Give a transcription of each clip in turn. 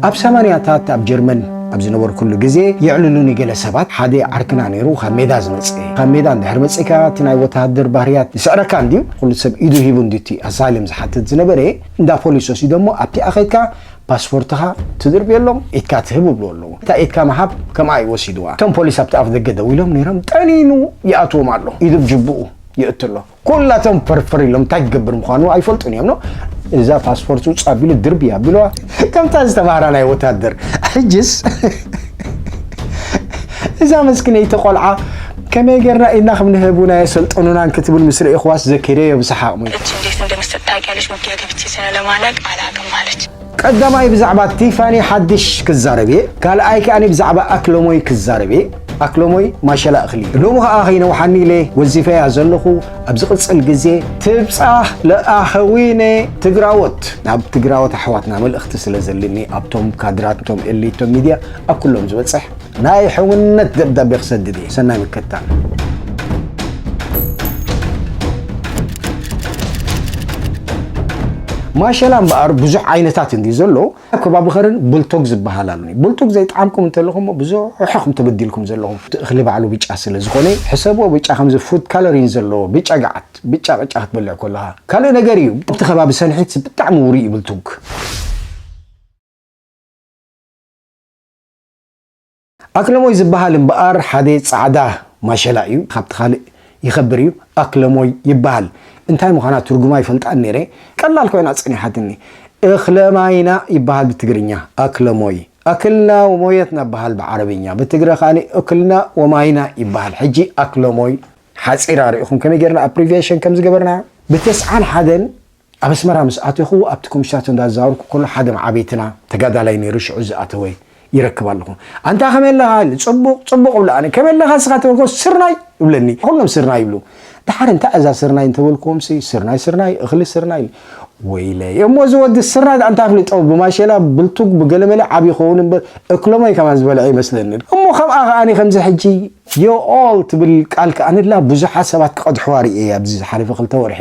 ኣብ ሰማንያታት ኣብ ጀርመን ኣብ ዝነበርኩሉ ግዜ የዕልሉኒ ገለ ሰባት፣ ሓደ ዓርክና ነይሩ ካብ ሜዳ ዝመጸ። ካብ ሜዳ እንድሕር መጺእካ እቲ ናይ ወተሃደር ባህርያት ይስዕረካ እንድዩ፣ ኩሉ ሰብ ኢዱ ሂቡ እንድዩ እቲ ኣሳይለም ዝሓትት ዝነበረ፣ እንዳ ፖሊስ ወሲዶሞ ኣብቲኣ ከይድካ ፓስፖርትኻ ትድርብየሎም ኢድካ ትህብ ይብልዎ ኣለዉ። እታ ኢድካ ምሃብ ከምኣ እዩ ወሲድዋ። እቶም ፖሊስ ኣብቲ ኣፍደገ ደው ኢሎም ነይሮም ጠኒኑ ይኣትዎም ኣሎ ኢዱ ብ ጁቡኡ የእቱ ኣሎ። ኩላቶም ፈርፈር ኢሎም እንታይ ክገብር ምዃኑ ኣይፈልጡን እዮም እዛ ፓስፖርት ውፅ ኣቢሉ ድርቢ ኣቢለዋ ከምታ ዝተባህራ ናይ ወታደር ሕጅስ እዛ መስኪነይቲ ቆልዓ ከመይ ጌርና ኢድና ከም ንህቡን ኣየሰልጠኑናን ክትብል ምስ ርኢኽዋስ ዘኪረዮ ብሰሓቕ ሞይተ። ረጅም ሌት እንደምሰጥ ታውቂያለሽ። ውጊያ ገብቼ ስለለማላቅ አላቅም አለች። ቀዳማይ ብዛዕባ ቲፋኒ ሓድሽ ክዛረብ እየ ካልኣይ ከኣ ብዛዕባ ኣክሎሞይ ክዛረብ እየ ኣክሎሞይ ማሸላ እክሊ እዩ ሎሚ ከኣ ከይነውሓኒ ኢለ ወዚፈያ ዘለኩ ኣብ ዝቅጽል ግዜ ትብጻህ ለኣከዊነ ትግራዎት ናብ ትግራዎት ኣሕዋትና መልእክቲ ስለ ዘልኒ ኣብቶም ካድራት እቶም ኤሊት እቶም ሚድያ ኣብ ኩሎም ዝበጽሕ ናይ ሕውነት ደብዳቤ ክሰድድ እየ ሰናይ ምክትታል። ማሸላ እምበኣር ብዙሕ ዓይነታት እንድዩ ዘሎ ከባቢ ኸርን ቡልቶግ ዝበሃል ኣሉኒ ቡልቱግ ዘይጠዓምኩም እንተለኹሞ ብዙሕኹም ተበዲልኩም ዘለኹም እቲ እኽሊ ባዕሉ ብጫ ስለ ዝኾነ ሕሰብዎ ብጫ ከምዚ ፉድ ካሎሪን ዘለዎ ብጫ ገዓት ብጫ ቅጫ ክትበልዕ ከለኻ ካልእ ነገር እዩ ኣብቲ ከባቢ ሰንሒት ብጣዕሚ ውሩይ እዩ ቡልቱግ ኣክለሞይ ዝበሃል እምበኣር ሓደ ጻዕዳ ማሸላ እዩ፣ ካብቲ ካልእ ይኸብር እዩ፣ ኣክለሞይ ይበሃል። እንታይ ምዃና ትርጉማ ኣይፈልጣን ነይረ፣ ቀላል ኮይና ጸኒሓትኒ። እክለማይና ይበሃል ብትግርኛ፣ ኣክለሞይ። ኣክልና ወሞየትና ይበሃል ብዓረብኛ፣ ብትግረ ካልእ እክልና ወማይና ይበሃል። ሕጂ ኣክለሞይ ሓጺራ ርኢኹም ከመይ ጌርና ኣፕሪቪየሽን ከም ዝገበርናያ? ብተስዓን ሓደን ኣብ ኣስመራ ምስ ኣተኹ ኣብቲ ኮምሽታት እንዳዛወርኩ ከሎ ሓደ መዓበይትና ተጋዳላይ ነይሩ ሽዑ ዝኣተወ ይረክብ ኣለኹ ኣንታ ከመይ ኣለኻ ኢሉ ጽቡቕ ጽቡቕ እብሎ ኣነ ከመይ ኣለኻ እስኻ ተበልኩዎ ስርናይ እብለኒ ኩሎም ስርናይ ይብሉ ድሓር እንታይ እዛ ስርናይ እንተበልኩዎምሲ ስርናይ ስርናይ እኽሊ ስርናይ ወይለ እሞ እዚ ወዲ ስርናይ ድኣ እንታይ ኣፍሊጦ ብማሸላ ብልቱግ ብገለመለ ዓቢ ይኸውን እምበር እክሎማይ ከማን ዝበልዐ ይመስለኒ እሞ ከምኣ ከኣኒ ከምዚ ሕጂ ዮኦል ትብል ቃል ክኣንላ ብዙሓት ሰባት ክቐድሕዋ ርእየያ ኣብዚ ዝሓለፈ ክልተ ወርሒ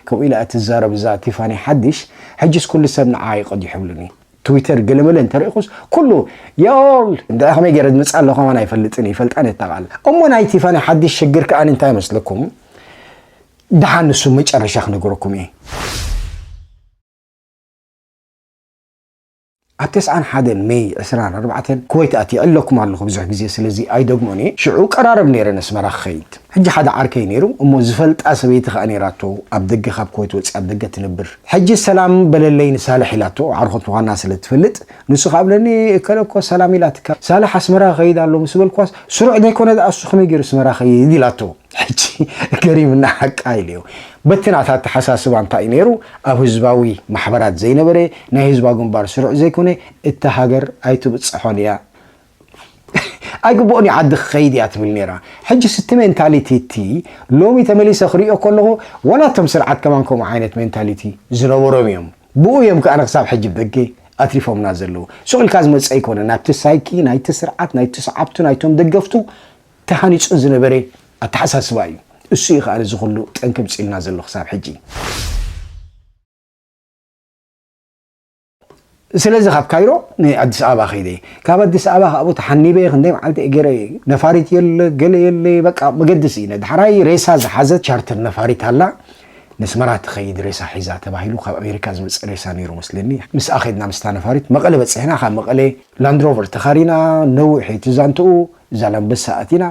ከምኡ ኢላ'ያ ትዛረብ እዛ ቲፋኒ ሓዲሽ ሕጂስ ኩሉ ሰብ ንዓኣ ዩ ቀዲሑሉኒ ትዊተር ገለመለ እንተሪእኹስ ኩሉ ዮኦል እንድዒ ከመይ ገይረ ዝመጽኣ ኣለኹ ከማን ኣይፈልጥን እየ ይፈልጣ ነታ ቃል እሞ ናይ ቲፋኒ ሓዲሽ ሽግር ክኣ እንታይ መስለኩም ድሓን ንሱ መጨረሻ ክነገረኩም እየ። ኣብ ተስዓን ሓደን መይ ዕስራን ኣርባዕተን ኩወይት ኣትየ ዕለኩም ኣለኹ ብዙሕ ግዜ ስለዚ ኣይደግሞን እየ ሽዑ ቀራርብ ነይረ ነስመራ ክኸይድ ሕጂ ሓደ ዓርከይ ነይሩ እሞ ዝፈልጣ ሰበይቲ ከኣ ነይራቶ ኣብ ደገ ካብ ኩወይት ወጺኣ ኣብ ደገ ትነብር ሕጂ ሰላም በለለይ ንሳልሕ ኢላቶ ዓርኾት ምዃና ስለ ትፈልጥ ንሱ ከኣ ብለኒ እከለ እኮ ሰላም ኢላትካ ሳልሕ ኣስመራ ክኸይድ ኣሎ ምስ በልክዋስ ስሩዕ ዘይኮነ ደኣ እሱ ከመይ ገይሩ ኣስመራ ክኸይድ ኢላቶ ሕጂ ገሪምና ሓቃ ኢልዮ በቲ ናታ ኣተሓሳስባ እንታይ እዩ ነይሩ ኣብ ህዝባዊ ማሕበራት ዘይነበረ ናይ ህዝባዊ ግንባር ስሩዕ ዘይኮነ እታ ሃገር ኣይትብጽሖን እያ ኣይግብኦን እዩ ዓዲ ክኸይድ እያ ትብል ነይራ ሕጂ ስቲ ሜንታሊቲ እቲ ሎሚ ተመሊሰ ክሪኦ ከለኹ ዋላ እቶም ስርዓት ከማን ከምኡ ዓይነት ሜንታሊቲ ዝነበሮም እዮም ብኡ እዮም ከኣ ንክሳብ ሕጂ ብደገ ኣትሪፎምና ዘለዉ ሱቕ ኢልካ ዝመጽእ ኣይኮነን ናብቲ ሳይኪ ናይቲ ስርዓት ናይቲ ሰዓብቱ ናይቶም ደገፍቱ ተሃኒጹ ዝነበረ ኣተሓሳስባ እዩ። እሱ እዩ ከኣ እዚ ኩሉ ጠንቂ ምጺኡልና ዘሎ ክሳብ ሕጂ። ስለዚ ካብ ካይሮ ንኣዲስ ኣበባ ከይደ። ካብ ኣዲስ ኣበባ ካብኡ ተሓኒበ ክንደይ መዓልቲ እየ ገይረ። ነፋሪት የለ ገለ የለ በቃ መገዲ ስኢነ። ዳሕራይ ሬሳ ዝሓዘት ቻርተር ነፋሪት ኣላ ነስመራ ትኸይድ ሬሳ ሒዛ ተባሂሉ ካብ ኣሜሪካ ዝመጽእ ሬሳ ነይሩ መስለኒ። ምስኣ ከድና ምስታ ነፋሪት መቐለ በጺሕና ካብ መቐለ ላንድሮቨር ተኻሪና ነዊሕ እዩ እቲ ዛንትኡ። ዛላምበሳ ኣቲና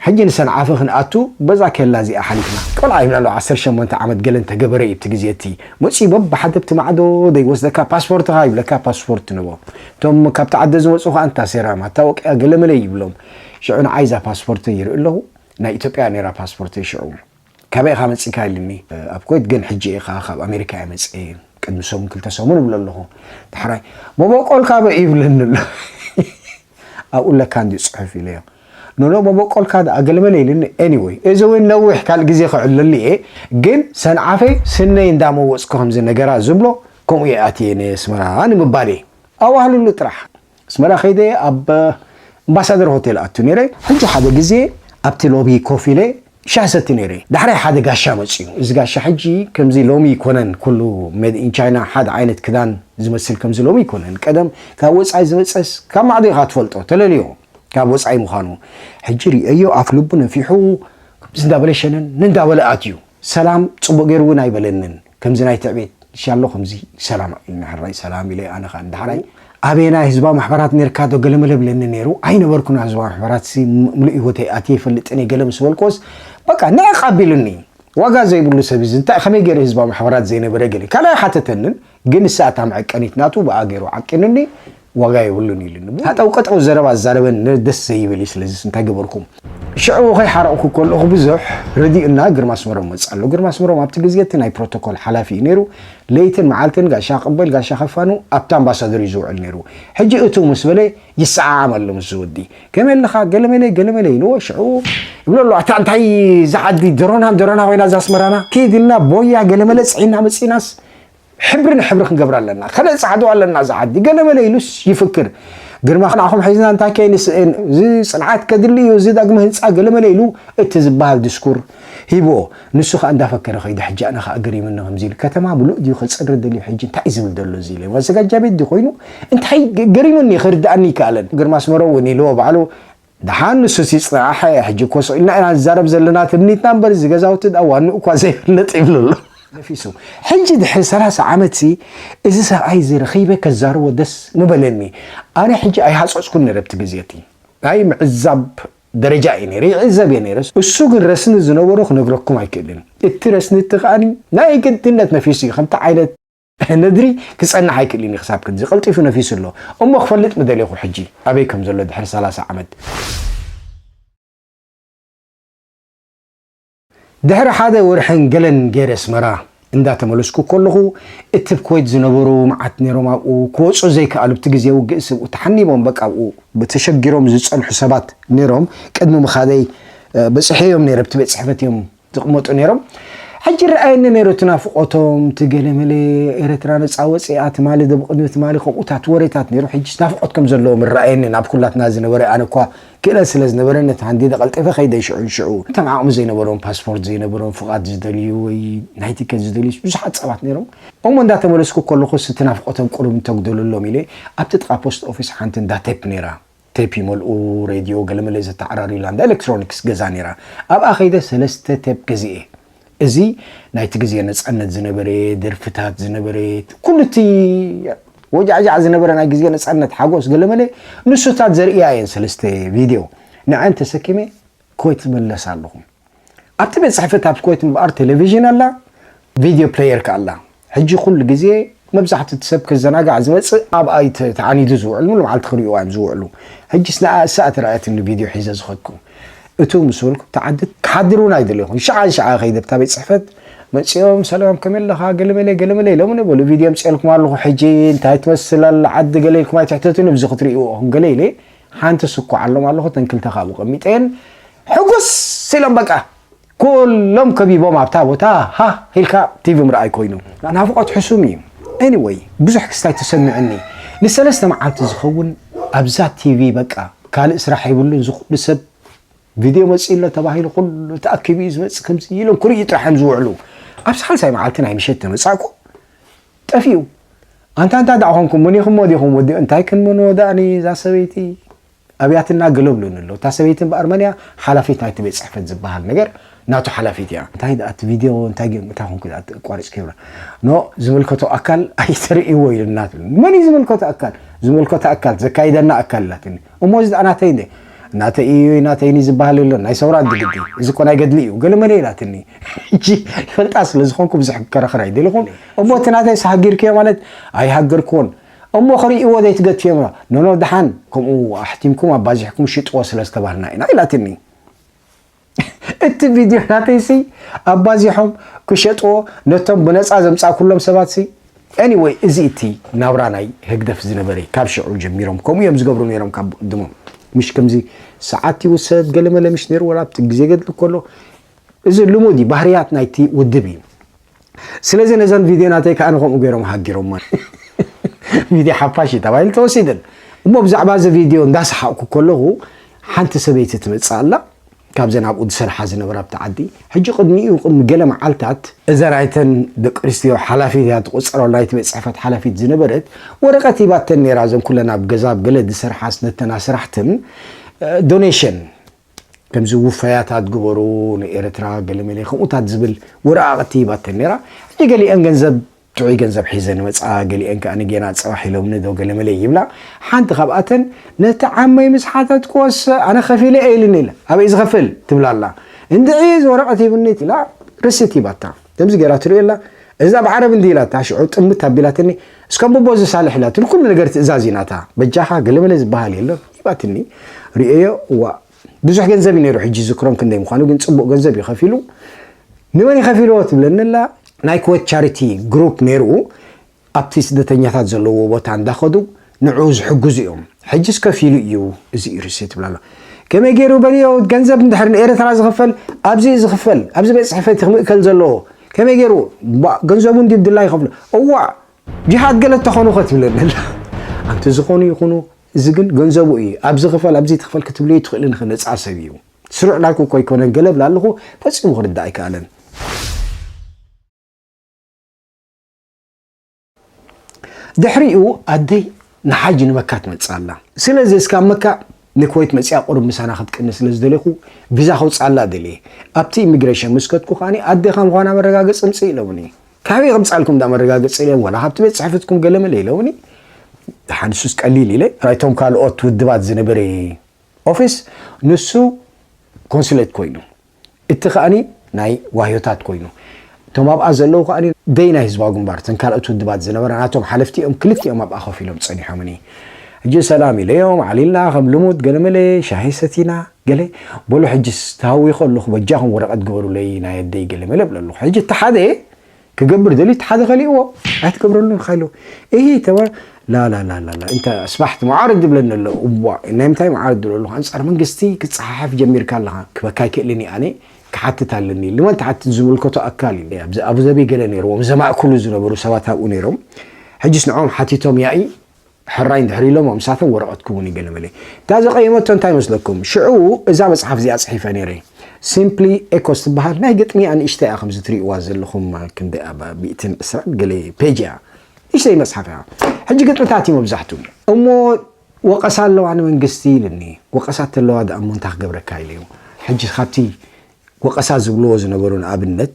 ሕጂ ንሰንዓፈ ክንኣቱ በዛ ኬላ እዚኣ ሓሊፍና። ቆልዓ ይብላ ኣለዋ ዓሰርተ ሸሞንተ ዓመት ገለ እንተ ገበረ እዩ እቲ ግዜ እቲ መጺኡ በብሓደ ኣብቲ ማዕዶ ዶ ይወስደካ ፓስፖርትኻ ይብለካ ፓስፖርት ንቦ እቶም ካብቲ ዓደ ዝመጹ ከኣ እንታ ሴራ ማታወቅያ ገለ መለ ይብሎም ሽዑ ንዓይ እዛ ፓስፖርተይ ይርኢ ኣለኹ ናይ ኢትዮጵያ እያ ኔራ ፓስፖርተይ ሽዑ ካበይ ኢኻ መጺእካ ኢሉኒ ኣብ ኩዌት ግን ሕጂ ኢኻ ካብ ኣሜሪካ እየ መጽኤ ቅድሚ ሰሙን ክልተ ሰሙን እብሎ ኣለኹ ዳሕራይ መበቆልካ በይ ይብለኒ ኣሎ ኣብኡ ኣለካ እንድዩ ጽሑፍ ኢለዮ ኖኖ መበቆልካ ደኣ ገለመለ ኢሉኒ ኤኒወይ እዚ እውን ነዊሕ ካልእ ግዜ ክዕለሉ እየ ግን ሰንዓፈይ ስነይ እንዳመወጽኩ ከምዚ ነገራ ዝብሎ ከምኡ እየ ኣትየ ነየስመራ ንምባል እየ ኣዋህልሉ ጥራሕ ኣስመራ ከይደ ኣብ ኣምባሳደር ሆቴል ኣቱ ነይረ። ሕጂ ሓደ ግዜ ኣብቲ ሎቢ ኮፍ ኢለ ሻሂ ሰቲ ነይረ። ዳሕራይ ሓደ ጋሻ መጽዩ። እዚ ጋሻ ሕጂ ከምዚ ሎሚ ኣይኮነን ኩሉ ሜድ ኢን ቻይና ሓደ ዓይነት ክዳን ዝመስል ከምዚ ሎሚ ኣይኮነን። ቀደም ካብ ወጻኢ ዝመጸስ ካብ ማዕዶ ኢኻ ትፈልጦ ተለልዮ ካብ ወጻኢ ምዃኑ። ሕጂ ርእየዮ ኣፍ ልቡ ነፊሑ ከምዚ እንዳበለ ሸነን እንዳበለ ኣትዩ። ሰላም ጽቡቕ ገይሩ እውን ኣይበለንን። ከምዚ ናይ ትዕቤት ሻሎ ከምዚ ሰላም ኣዩ ንሕራይ ሰላም ኢለ ኣነ ከኣ ንዳሕራይ ኣበየናይ ህዝባዊ ማሕበራት ኔርካ ዶ ገለመለ ብለኒ ኔሩ ኣይነበርኩን ኣብ ህዝባዊ ማሕበራት ሲ ምሉእ ሂወተይ ኣትየ ይፈልጥን እየ ገለ ምስ በልክዎስ በቃ ንዕቅ ኣቢሉኒ ዋጋ ዘይብሉ ሰብ እዚ እንታይ ከመይ ገይሩ ህዝባዊ ማሕበራት ዘይነበረ ገለ ካልኣይ ሓተተንን ግን ንሳ እታ መዐቀኒት ናቱ ብኣ ገይሩ ዓቂኑኒ ዋጋ የብሉን ኢሉኒ እሞ ሃጠው ቀጠው ዘረባ ኣዛረበኒ ነዚ ደስ ዘይብል እዩ ስለዚስ እንታይ ገበርኩም ሽዑ ከይሓረቕኩ ከለኹ ብዙሕ ረዲኡና ግርማ ኣስመሮም መጽእ ኣሎ ግርማ ኣስመሮም ኣብቲ ግዜ እቲ ናይ ፕሮቶኮል ሓላፊ እዩ ነይሩ ለይትን መዓልትን ጋሻ ቅበል ጋሻ ከፋኑ ኣብቲ ኣምባሳደር እዩ ዝውዕል ነይሩ ሕጂ እትው ምስ በለ ይሰዓዓም ኣሎ ምስዚ ወዲ ከመይ ኣለኻ ገለመለ ገለመለ ኢልዎ ሽዑ ይብሎ ኣሎ ኣታ እንታይ እዛ ዓዲ ደሮና ደሮና ኮይና እዛ ኣስመራና ከይድ ኢልና ቦያ ገለመለ ጽዒና መጺእናስ ሕብሪ ንሕብሪ ክንገብራ ኣለና ከነጽዓዱ ኣለና እዛ ዓዲ ገለመለ ኢሉስ ይፍክር ግርማ ንዓኹም ሒዝና እንታይ ከይንስእን እዚ ጽንዓት ከድሊ እዩ እዚ ዳግመ ህንፃ ገለመለ ኢሉ እቲ ዝበሃል ድስኩር ሂብዎ ንሱ ከዓ እንዳፈከረ ከይደ ሕጂ ኣነ ከዓ ገሪምኒ ከምዚ ኢሉ ከተማ ምሉእ ድዩ ከፅሪ ደልዩ ሕጂ እንታይ ዝብል ዘሎ እዚ ኢለ ማዘጋጃ ቤት ድዩ ኮይኑ እንታይ ገሪምኒ ክርድኣኒ ይከኣለን ግርማ ኣስመሮ እውን ኢልዎ ባዕሉ ደሓን ንሱስ ይጽናሕ ሕጂ እኮ ስቕ ኢልና ኢና ንዛረብ ዘለና ትምኒትና እምበር እዚ ገዛውቲ ደኣ ዋንኡ እኳ ዘይፍለጥ ይብሉ ኣሎ ነፊሱ ሕጂ ድሕሪ ሰላሳ ዓመት ሲ እዚ ሰብኣይ እዚ ረኺበ ከዛርቦ ደስ ምበለኒ ኣነ ሕጂ ኣይሃጸጽኩን ነረ ኣብቲ ግዜ እቲ ናይ ምዕዛብ ደረጃ እዩ ነረ ይዕዘብ እየ ነረ እሱ ግን ረስኒ ዝነበሮ ክነግረኩም ኣይክእልን እቲ ረስኒ እቲ ከኣ ናይ ግድነት ነፊሱ እዩ ከምቲ ዓይነት ነድሪ ክጸንሕ ኣይክእልን እዩ ክሳብ ክንዚ ቀልጢፉ ነፊሱ ኣሎ እሞ ክፈልጥ ምደሌኹ ሕጂ ኣበይ ከም ዘሎ ድሕሪ ሰላሳ ዓመት ድሕሪ ሓደ ወርሕን ገለን ገይረ ኣስመራ እንዳተመለስኩ ከለኹ እቲ ብ ኩወይት ዝነበሩ መዓት ነይሮም ኣብኡ ክወፁ ዘይከኣሉ ብቲ ግዜ ውግእ ስብኡ ተሓኒቦም በቃ ኣብኡ ተሸጊሮም ዝፀንሑ ሰባት ነይሮም ቅድሚ ምኻደይ በፂሐዮም ነይረ ብቲ ቤት ፅሕፈት እዮም ዝቅመጡ ነይሮም ሕጂ ይረኣየኒ ነይሩ እቲ ናፍቆቶም እቲ ገለመለ ኤረትራ ነጻ ወጺኣ ትማሊ ዶብ ቅድሚ ትማሊ ከምኡታት ወሬታት ነይሩ ሕጂስ ናፍቆት ከም ዘለዎም ይረኣየኒ ናብ ኩላትና ዝነበረ ኣነ እኳ ክእለት ስለ ዝነበረኒ ነቲ ሃንዲደ ቀልጢፈ ከይደ ሽዑ ንሽዑ እቶም ዓቅሚ ዘይነበሮም ፓስፖርት ዘይነበሮም ፍቃድ ዝደልዩ ወይ ናይ ቲከት ዝደልዩስ ብዙሓት ጸባት ነይሮም እሞ እንዳተመለስኩ ከለኹስ እቲ ናፍቆቶም ቁሩብ እንተጉደለሎም ኢለ ኣብቲ ጥቃ ፖስት ኦፊስ ሓንቲ እንዳ ቴፕ ነይራ ቴፕ ይመልኡ፣ ሬድዮ፣ ገለመለ ዘተዓራርዩላ እንዳ ኤለክትሮኒክስ ገዛ ነይራ። ኣብኣ ከይደ ሰለስተ ቴፕ ገዚኤ። እዚ ናይቲ ግዜ ነጻነት ዝነበረ ደርፍታት ዝነበረ ኩሉ እቲ ወጃዕጃዕ ዝነበረ ናይ ግዜ ነጻነት ሓጎስ ገለመለ ንሱታት ዘርእያ እየን ሰለስተ ቪድዮ ንዐን ተሰኪመ ኮይት ዝምለስ ኣለኹ ኣብቲ ቤት ጽሕፈት ኣብ ኮይት እምበኣር ቴሌቪዥን ኣላ ቪድዮ ፕለየር ከኣ ኣላ ሕጂ ኩሉ ግዜ መብዛሕትኡ እቲ ሰብ ክዘናጋዕ ዝመጽእ ኣብኣ እዩ ተዓኒዱ ዝውዕል ሙሉ መዓልቲ ክርእዩዋ እዮም ዝውዕሉ ሕጂስ ንኣ እሳ እያ ተራእያትኒ ቪድዮ ሒዘ ዝኸድኩ እቱ ምስ በልኩ ኣብቲ ዓዲ ክሓድር እውን ኣይደለኹን ሽዓ ንሽዓ ከይደ ኣብታ ቤት ጽሕፈት መጺኦም ሰላም ከመይ ኣለኻ ገለመለ ገለመለ ኢሎምኒ በሉ ቪድዮ ኣምጺኤልኩም ኣለኹ ሕጂ እንታይ ትመስል ኣላ ዓዲ ገለ ኢልኩም ኣይትሕተቱኒ ብዚ ክትርእይዎ ኢኹም ገለ ኢለ ሓንቲ ስኳዓሎም ኣለኹ እተን ክልተ ካኣ ኣብኡ ቀሚጠየን ሕጉስ ኢሎም በቃ ኩሎም ከቢቦም ኣብታ ቦታ ሃህ ኢልካ ቲቪ ምርኣይ ኮይኑ ናፍቆት ሕሱም እዩ ኤኒወይ ብዙሕ ክስታይ ተሰሚዑኒ ንሰለስተ መዓልቲ ዝኸውን ኣብዛ ቲቪ በቃ ካልእ ስራሕ የብሉን ዝኹሉ ሰብ ቪድዮ መፂኡ ኣሎ ተባሂሉ ኩሉ ተኣኪቡ እዩ ዝመፅእ ከምዚ ኢሎም ክርእዩ ጥራሕ እዮም ዝውዕሉ ኣብ ሳልሳይ መዓልቲ ናይ ምሸት ተመፃእኩ ጠፊኡ ኣንታ ኣንታ ደኣ ኮንኩም ሞኒክሞ ዲኩም ወዲ እንታይ ክንምኖ ደኣኒ እዛ ሰበይቲ ኣብያትና ገለ ብሉኒ ኣሎ እታ ሰበይቲ እምበኣር መን እያ ሓላፊት ናይቲ ቤት ጽሕፈት ዝበሃል ነገር ናቱ ሓላፊት እያ እንታይ ደኣ እቲ ቪድዮ እንታይ ጌሩ እንታይ ኮንኩ ደኣ ኣቋሪጽክዮ ኖ ዝምልከቶ ኣካል ኣይተርእይዎ ኢሉና መን እዩ ዝምልከቶ ኣካል ዝምልከቶ ኣካል ዘካይደና ኣካል ኢላትኒ እሞ እዚ ድኣ ናተይ እንዴ ናተይ እዩይ ናተይ እኒ ዝባሃል የሎን ናይ ሰውራ ድግዲ እዚ እኮ ናይ ገድሊ እዩ ገለ መለ ኢላትኒ ሕጂ ይፈልጣ ስለ ዝኾንኩ ብዙሕ ክከራኸር ኣይደለኹን እሞ እቲ ናተይስ ሃጊርክዮ ማለት ኣይሃገርክዎን እሞ ክርእይዎ ዘይትገትዮም ዶ ኖኖ ድሓን ከምኡ ኣሕቲምኩም ኣባዚሕኩም ሽጥዎ ስለ ዝተባሃልና ኢና ኢላትኒ እቲ ቪድዮ ናተይሲ ኣባዚሖም ክሸጥዎ ነቶም ብነፃ ዘምፃእኩሎም ሰባትሲ Anyway እዚ እቲ ናብራ ናይ ህግደፍ ዝነበረ እዩ ካብ ሽዑ ጀሚሮም ከምኡ እዮም ዝገብሩ ነይሮም ካብ ብቕድሞም ምሽ ከምዚ ሰዓት ይውሰድ ገለመለ ምሽ ነይሩ ወላ ኣብቲ ግዜ ገድሊ ከሎ እዚ ልሙድ እዩ ባህርያት ናይቲ ውድብ እዩ ስለዚ ነዘን ቪድዮ ናተይ ከኣ ከምኡ ገይሮም ሃጊሮማ። ቪድዮ ሓፋሽ እዩ ተባሂሉ ተወሲደን። እሞ ብዛዕባ እዚ ቪድዮ እንዳሰሓቕኩ ከለኹ ሓንቲ ሰበይቲ ትመጽእ ኣላ፣ ካብዘን ኣብኡ ዝሰርሓ ዝነበራ ኣብቲ ዓዲ። ሕጂ ቅድሚኡ ቅድሚ ገለ መዓልታት፣ እዛ ናይተን ደቂ ኣንስትዮ ሓላፊት እያ ትቑጸሮ፣ ናይቲ ቤት ጽሕፈት ሓላፊት ዝነበረት፣ ወረቐት ሂባተን ነይራ፣ እዘን ኩለን ኣብ ገዛ ኣብ ገለ ዝሰርሓስ ነተን ኣስራሕትን ዶኔሽን፣ ከምዚ ውፈያታት ግበሩ ንኤርትራ ገለመለ ከምኡታት ዝብል ወረቓቕቲ ሂባተን ኔራ ሕጂ ገሊኤን ገንዘብ ጥዑይ ገንዘብ ሒዘን ይመጻ ገሊኤን ከኣ ጌና ጽባሕ ኢሎምኒ ዶ ገለመለ ይብላ ሓንቲ ካብኣተን ነቲ ዓመይ ምስ ሓተትክዎስ ኣነ ከፊለ እየ ኢልኒ ኢለ ኣበይ ዝኸፍል ትብላ ኣላ እንድዒ እዚ ወረቐት ሂብኒ ኢላ ርሲት ሂባታ ከምዚ ገይራ ትሪኦ ኣላ እዚ ኣብ ዓረብ እንድዩ ኢላታ ሽዑ ጥምት ኣቢላትኒ እስከ ኣቦቦ እዚ ሳልሕ ኢላትኒ ኩሉ ነገር ትእዛዝ ናታ በጃኻ ገለመለ ዝበሃል የሎን ሂባትኒ ሪኤዮ እዋእ ብዙሕ ገንዘብ እዩ ነይሩ ሕጂ ዝክሮም ክንደይ ምዃኑ ግን ጽቡቕ ገንዘብ እዩ ከፊሉ ንመን ይኸፊልዎ ትብለኒ ኣላ ናይ ክወት ቻሪቲ ግሩፕ ነይሩ ኣብቲ ስደተኛታት ዘለዎ ቦታ እንዳኸዱ ንዕኡ ዝሕግዙ እዮም ሕጅስ ከፊሉ እዩ እዚ ኢርሲ ትብል ኣሎ ከመይ ገይሩ በልዮ ገንዘብ እንድሕር ንኤርትራ ዝኽፈል ኣብዚ እዩ ዝኽፈል ኣብዚ ቤት ጽሕፈት ክምእከል ዘለዎ ከመይ ገይሩ ገንዘቡ እንዲ ብድላ ይኸፍሉ እዋ ጅሃድ ገለ ተኾኑ ከትብለኒ ኣላ ኣንቲ ዝኾኑ ይኹኑ እዚ ግን ገንዘቡ እዩ ኣብዚ ክፈል ኣብዚ ትኽፈል ክትብሉ ይትኽእልን ኸ ነጻ ሰብ እዩ ስሩዕ ላልኩ ኮይ ኮነን ገለ ብላ ኣለኹ ፈጺሙ ክርዳእ ኣይከኣለን ድሕሪኡ ኣደይ ንሓጂ ንመካ ትመጽእ ኣላ። ስለዚ እስካብ መካ ንክወይት መጺኣ ቁሩብ ምሳና ክትቅንስ ስለ ዝደሌኹ ቪዛ ከውጽኣላ ደልየ። ኣብቲ ኢሚግረሽን ምስ ከድኩ ከኣ ኣደ ከም ምዃና መረጋገጺ ኣምጽኢ ኢሎምኒ። ካበይ ከምጽኣልኩም እንዳ መረጋገጺ ኢለ ወላ ካብቲ ቤት ጽሕፈትኩም ገለመለ ኢሎምኒ። ደሓን ንሱስ ቀሊል ኢለ ናይቶም ካልኦት ውድባት ዝነበረ ኦፊስ ንሱ ኮንስሌት ኮይኑ። እቲ ከኣ ናይ ዋህዮታት ኮይኑ እቶም ኣብኣ ዘለዉ ከኣ ደይ ናይ ህዝባዊ ግንባር እተን ካልኦት ውድባት ዝነበራ ናቶም ሓለፍቲ እዮም ክልቲኦም ኣብኣ ኮፍ ኢሎም ጸኒሖምኒ ሕጂ ሰላም ኢለዮም ዓሊልና ከም ልሙድ ገለመለ ሻሂ ሰቲና ገለ በሉ ሕጂስ ተሃዊኸ ኣለኹ በጃኹም ወረቐት ግበሩለይ ናይ ኣደይ ገለመለ እብለ ኣለኹ ሕጂ እቲ ሓደ ክገብር ደልዩ እቲ ሓደ ከሊእዎ ኣይትገብረሉን ኢኻ ኢልዎ እሂ ተባሂሉ ላላላላ እንታይ ኣስባሕት መዓርግ ዝብለኒ ኣሎ እዋእ ናይ ምንታይ መዓርግ ትብሎ ኣለኻ ኣንጻር መንግስቲ ክትጸሓሓፍ ጀሚርካ ኣለኻ ክበካ ኣይክእልን እየ ኣነ ክሓትት ኣለኒ ኢሉ ንመን ትሓትት ዝምልከቶ ኣካል እዩ ኣብዚ ኣቡዘቢ ገለ ነይርዎም ዘማእክሉ ዝነበሩ ሰባት ኣብኡ ነይሮም ሕጅስ ንዕኦም ሓቲቶም ያኢ ሕራይ እንድሕር ኢሎሞ ምሳቶም ወረቐት ክውን እዩ ገለ መለ። እታ ዘቐየመቶ እንታይ መስለኩም? ሽዑ እዛ መጽሓፍ እዚኣ ጽሒፈ ነይረ። Simply Echoes ትበሃል። ናይ ግጥሚ እያ ንእሽተይ እያ ከምዚ ትርእይዋ ዘለኹም ክንደይ ኣብ ሚእትን ዕስራን ገለ ፔጅ እያ። ንእሽተይ መጽሓፍ እያ። ሕጂ ግጥምታት እዩ መብዛሕቱ። እሞ ወቐሳ ኣለዋ ንመንግስቲ ኢሉኒ። ወቐሳ እተለዋ ደኣ እሞ እንታይ ክገብረካ ኢለ እዩ። ሕጂ ካብቲ ወቐሳ ዝብልዎ ዝነበሩ ንኣብነት።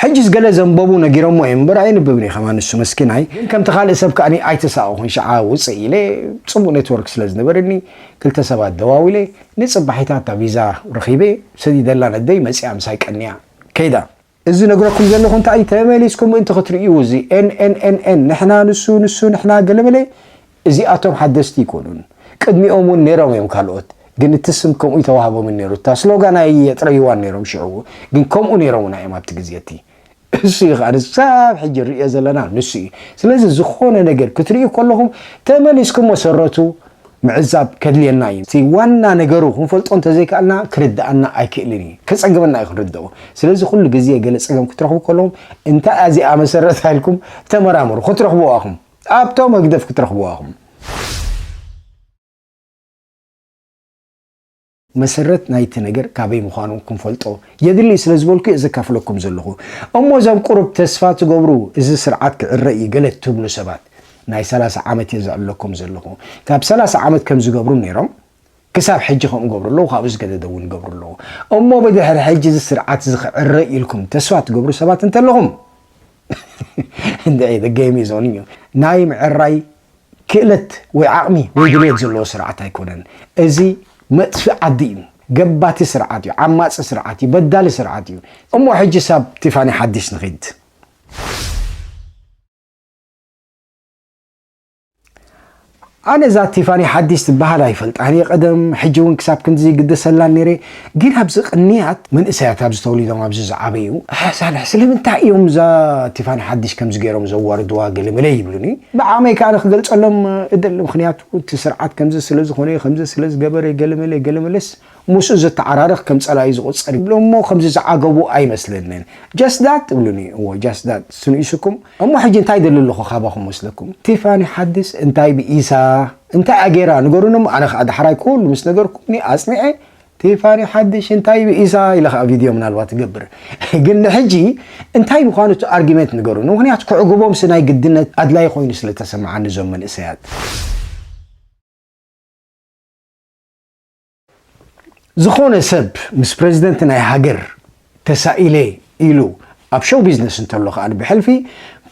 ሕጅስ ገለ ዘንበቡ ነጊረሞ እዮም እምበር ኣየንብብን እዩ ከማን ንሱ መስኪናይ ግን ከምቲ ካልእ ሰብ ከኣ ኣይተሳቀኩን ሽዓ ውጽእ ኢለ ጽቡቅ ኔትወርክ ስለ ዝነበረኒ ክልተ ሰባት ደዋዊለ ንጽባሒታት እታ ቪዛ ረኪበ ሰዲደላ ነደይ መጺኣ ምሳይ ቀንያ ከይዳ እዚ ዝነግረኩም ዘለኩ እንታይ እዩ ተመሊስኩም ምእንቲ ክትርእዩ እዚ NNNN ንሕና ንሱ ንሱ ንሕና ገለመለ እዚኣቶም ሓደስቲ ኣይኮኑን ቅድሚኦም ውን ኔሮም እዮም ካልኦት ግን እቲ ስም ከምኡ ኣይተዋህቦምን ኔሩ እታ ስሎጋን ኣየጥረይዋን ኔሮም ሽዑ ግን ከምኡ ኔሮሙና እዮም ኣብቲ ግዜ እቲ እሱ እዩ ከኣ ንሳብ ሕጂ ንርእዮ ዘለና ንሱ እዩ ስለዚ ዝኾነ ነገር ክትርእዩ ከለኹም ተመሊስኩም መሰረቱ ምዕዛብ ከድልየና እዩ እቲ ዋና ነገሩ ክንፈልጦ እንተዘይከኣልና ክርድኣና ኣይክእልን እዩ ከጸግመና እዩ ክንርድኦ ስለዚ ኩሉ ግዜ ገለ ጸገም ክትረኽቡ ከለኹም እንታይ እያ እዚኣ መሰረታ ኢልኩም ተመራመሩ ክትረኽብዋ ኢኹም ኣብቶም ህግደፍ ክትረኽብዋ ኢኹም። መሰረት ናይቲ ነገር ካበይ ምዃኑ ክንፈልጦ የድሊ ስለ ዝበልኩ'የ ዘካፍለኩም ዘለኹ። እሞ እዞም ቁሩብ ተስፋ ትገብሩ እዚ ስርዓት ክዕረ እዩ ገለ ትብሉ ሰባት፣ ናይ ሰላሳ ዓመት'የ ዝዕለኩም ዘለኹ። ካብ ሰላሳ ዓመት ከም ዝገብሩ ኔሮም፣ ክሳብ ሕጂ ከምኡ ይገብሩ ኣለዉ ካብኡ ዝገደደ እውን ይገብሩ ኣለዉ እሞ ብድሕሪ ሕጂ እዚ ስርዓት እዚ ክዕረ ኢልኩም ተስፋ ትገብሩ ሰባት እንተለኹም the game is on you ናይ ምዕራይ ክእለት ወይ ዓቕሚ ወይ ድልየት ዘለዎ ስርዓት ኣይኮነን እዚ መጥፊ ዓዲ እዩ ገባቲ ስርዓት እዩ ዓማፂ ስርዓት እዩ በዳሊ ስርዓት እዩ እሞ ሕጂ ሳብ ቲፋኒ ሓዲሽ ንኺድ ኣነ እዛ ቲፋኒ ሓዲስ ትበሃል ኣይፈልጣን እየ ቀደም ሕጂ እውን ክሳብ ክንድዚ ይግደሰላን ነይረ ግን ኣብዚ ቅንያት መንእሰያት ኣብዚ ተወሊዶም ኣብዚ ዝዓበዩ ኣሕ ሳልሕ ስለምንታይ እዮም እዛ ቲፋኒ ሓዲስ ከምዚ ገይሮም ዘዋርድዋ ገለመለ ይብሉኒ ብዓቕመይ ከኣ ክገልጸሎም እደሊ ምኽንያቱ እቲ ስርዓት ከምዚ ስለዝኾነ ከምዚ ስለዝገበረ ገለመለ ገለመለስ ምስኡ ዘተዓራርኽ ከም ጸላኢ ዝቁጸር ይብሎም እሞ ከምዚ ዝዓገቡ ኣይመስለንን just that ትብሉኒ እዎ just that ስንኢሱኩም እሞ ሕጂ እንታይ ይደሊ ኣለኹ ካባኹም መስለኩም ቲፋኒ ሓድስ እንታይ ብኢሳ እንታይ እያ ጌራ ንገሩኒ እሞ ኣነ ከኣ ዳሕራይ ኩሉ ምስ ነገርኩምኒ ኣጽኒዐ ቲፋኒ ሓድሽ እንታይ ብኢሳ ኢለ ከኣ ቪድዮ ምናልባት ይገብር ግን ንሕጂ እንታይ ምዃኑ እቲ ኣርጊመንት ንገሩኒ ምክንያቱ ክዕግቦምሲ ናይ ግድነት ኣድላይ ኮይኑ ስለ ተሰምዓኒ እዞም መንእሰያት ዝኾነ ሰብ ምስ ፕረዚደንት ናይ ሃገር ተሳኢለ ኢሉ ኣብ ሸው ቢዝነስ እንተሎ ከኣ ብሕልፊ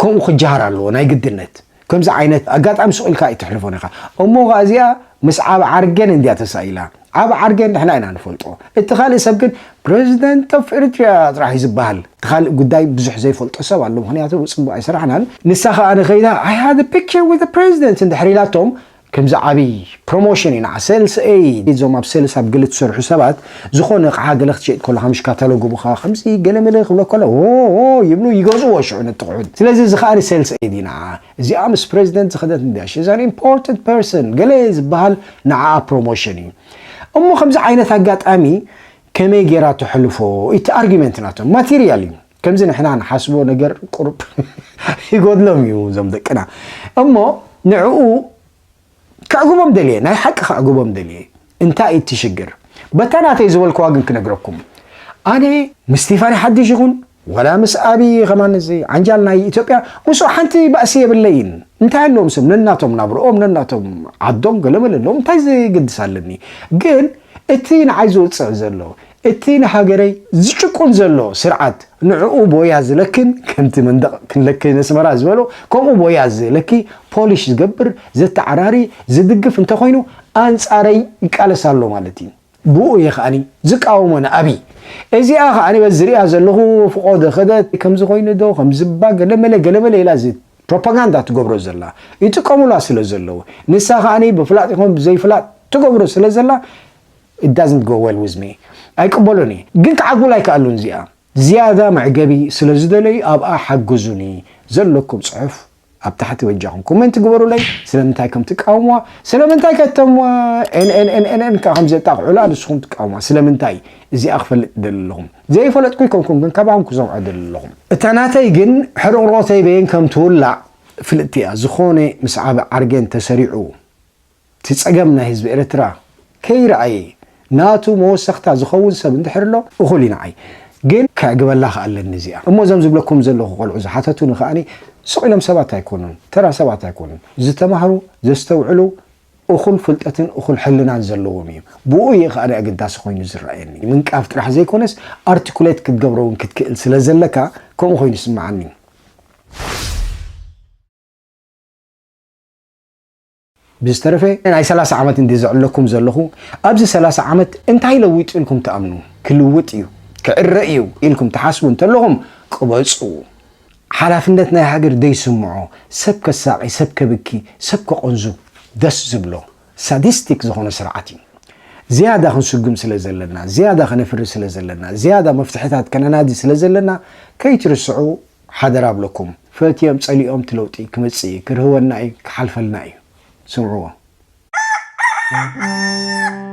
ከምኡ ክጀሃር ኣለዎ ናይ ግድነት ከምዚ ዓይነት ኣጋጣሚ ሱቕ ኢልካ ኣይትሕልፎን ኢኻ እሞ ከኣ እዚኣ ምስ ዓብ ዓርገን እንድያ ተሳኢላ ዓብ ዓርገን ንሕና ኢና ንፈልጦ እቲ ካልእ ሰብ ግን ፕረዚደንት ኦፍ ኤርትራ ጥራሕ እዩ ዝበሃል እቲ ካልእ ጉዳይ ብዙሕ ዘይፈልጦ ሰብ ኣሎ ምክንያቱ ጽቡቕ ኣይሰራሕናን ንሳ ከኣ ንኸይዳ ኣይ ሃድ ፒክቸር ዊዝ ፕረዚደንት እንድሕር ኢላቶም ከምዚ ዓቢ ፕሮሞሽን እዩ ንዓ ሴልስ ኤይድ እዞም ኣብ ሴልስ ኣብ ገለ ትሰርሑ ሰባት ዝኾነ ኣቕሓ ገለ ክትሸይጥ ከሎኻ ምሽ ካታሎግ ይቡኻ ከምዚ ገለ መለ ክብሎ ከሎ ዎዎ ይብሉ ይገዝእዎ ሽዑ ነቲ ኣቑሑት ስለዚ እዚ ከኣ ሴልስ ኤይድ እዩ ንዓ እዚኣ ምስ ፕረዚደንት ዝኸደት እንድያ ሺዝ ኣን ኢምፖርታንት ፐርሰን ገለ ዝብሃል ንዓኣ ፕሮሞሽን እዩ እሞ ከምዚ ዓይነት ኣጋጣሚ ከመይ ጌራ ተሕልፎ እቲ ኣርጊመንት ናቶም ማቴርያል እዩ ከምዚ ንሕና ንሓስቦ ነገር ቁሩብ ይጎድሎም እዩ እዞም ደቅና እሞ ንዕኡ ከዕግቦም ደልየ ናይ ሓቂ ከዕግቦም ደልየ እንታይ እቲ ሽግር በታ ናተይ ዝበልክዋ ግን ክነግረኩም ኣነ ምስ ስቴፋኒ ሓድሽ ይኹን ወላ ምስ ኣብዪ ከማን እዚ ዓንጃል ናይ ኢትዮጵያ ምስኡ ሓንቲ ባእሲ የብለይን እንታይ ኣለዎም ስም ነናቶም ናብርኦም ነናቶም ዓዶም ገለመለ ኣለዎም እንታይ ዝግድስ ኣለኒ ግን እቲ ንዓይ ዝውፅዕ ዘሎ እቲ ንሃገረይ ዝጭቁን ዘሎ ስርዓት ንዕኡ ቦያ ዝለክን ከምቲ መንደቕ ክንለክይ ነስመራ ዝበሎ ከምኡ ቦያ ዝለኪ ፖሊሽ ዝገብር ዘተዓራሪ ዝድግፍ እንተኾይኑ ኣንጻረይ ይቃለስ ኣሎ ማለት ኢዩ ብኡ ኢየ ከኣ ዝቃወሞ ንኣብይ እዚኣ ከኣ በዚ ዝሪኣ ዘለኹ ፍቆዶ ከደት ከምዚ ኮይኑዶ ከምዚባ ገለመለ ገለመለ ኢላ እዚ ፕሮፓጋንዳ ትገብሮ ዘላ ይጥቀሙላ ስለ ዘለዉ ንሳ ከኣ ብፍላጥ ይኹን ብዘይፍላጥ ትገብሮ ስለ ዘላ It doesn't go well with me ኣይቅበሎን እየ ግን ክዓግቡላ ኣይከኣሉን እዚኣ ዝያዳ መዕገቢ ስለ ዝደለዩ ኣብኣ ሓግዙኒ ዘለኩም ጽሑፍ ኣብ ታሕቲ በጃኹም ኮመንት ግበሩለይ ስለምንታይ ከም ትቃወምዋ ስለምንታይ ከተም ኤንኤንኤንኤን ከዓ ከም ዘጣቕዑላ ንስኹም ትቃወምዋ ስለምንታይ እዚኣ ክፈልጥ ደሊ ኣለኹም ዘይፈለጥኩ ይኮንኩም ግን ካባኹም ክሰምዖ ደሊ ኣለኹም እታ ናተይ ግን ሕርቕሮተይ በየን ከም ትውላዕ ፍልጥቲ እያ ዝኾነ ምስ ዓቢ ዓርገን ተሰሪዑ እቲ ጸገም ናይ ህዝቢ ኤርትራ ከይረኣየ ናቱ መወሰኽታ ዝኸውን ሰብ እንድሕር ኣሎ እኹል እዩ ንዓይ ግን ከዕግበላ ከኣ ኣለኒ እዚኣ እሞ እዞም ዝብለኩም ዘለኹ ቆልዑ ዝሓተቱኒ ከኣ ስቕ ኢሎም ሰባት ኣይኮኑን ተራ ሰባት ኣይኮኑን ዝተማህሩ ዘስተውዕሉ እኹል ፍልጠትን እኹል ሕልናን ዘለዎም እዩም ብኡ እየ ከኣ ኣገዳሲ ኮይኑ ዝረኣየኒ ምንቃፍ ጥራሕ ዘይኮነስ ኣርቲኩሌት ክትገብሮ እውን ክትክእል ስለ ዘለካ ከምኡ ኮይኑ ይስምዓኒ። ብዝተረፈ ናይ ሰላሳ ዓመት እንድየ ዘዕለኩም ዘለኹ ኣብዚ ሰላሳ ዓመት እንታይ ለዊጡ ኢልኩም ትኣምኑ? ክልውጥ እዩ፣ ክዕረ እዩ ኢልኩም ትሓስቡ እንተለኹም ቅበጹ። ሓላፍነት ናይ ሃገር ዘይስምዖ፣ ሰብ ከሳቒ፣ ሰብ ከብኪ፣ ሰብ ከቖንዙ ደስ ዝብሎ ሳዲስቲክ ዝኾነ ስርዓት እዩ። ዝያዳ ክንስጉም ስለ ዘለና፣ ዝያዳ ከነፍሪ ስለ ዘለና፣ ዝያዳ መፍትሕታት ከነናዲ ስለ ዘለና ከይትርስዑ ሓደራ እብለኩም ፈትዮም ጸሊኦም እቲ ለውጢ ክመጽእ እዩ ክርህወና እዩ ክሓልፈልና እዩ ስምዕዎ።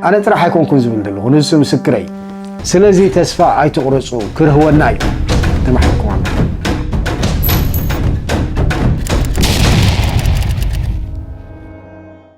ኣነ ጥራሕ ኣይኮንኩን ዝብል ዘለኹ ንሱ ምስክረይ ስለዚ ተስፋ ኣይትቑረጹ ክርህወና እዩ ተማሒርኩም ኣለኹም።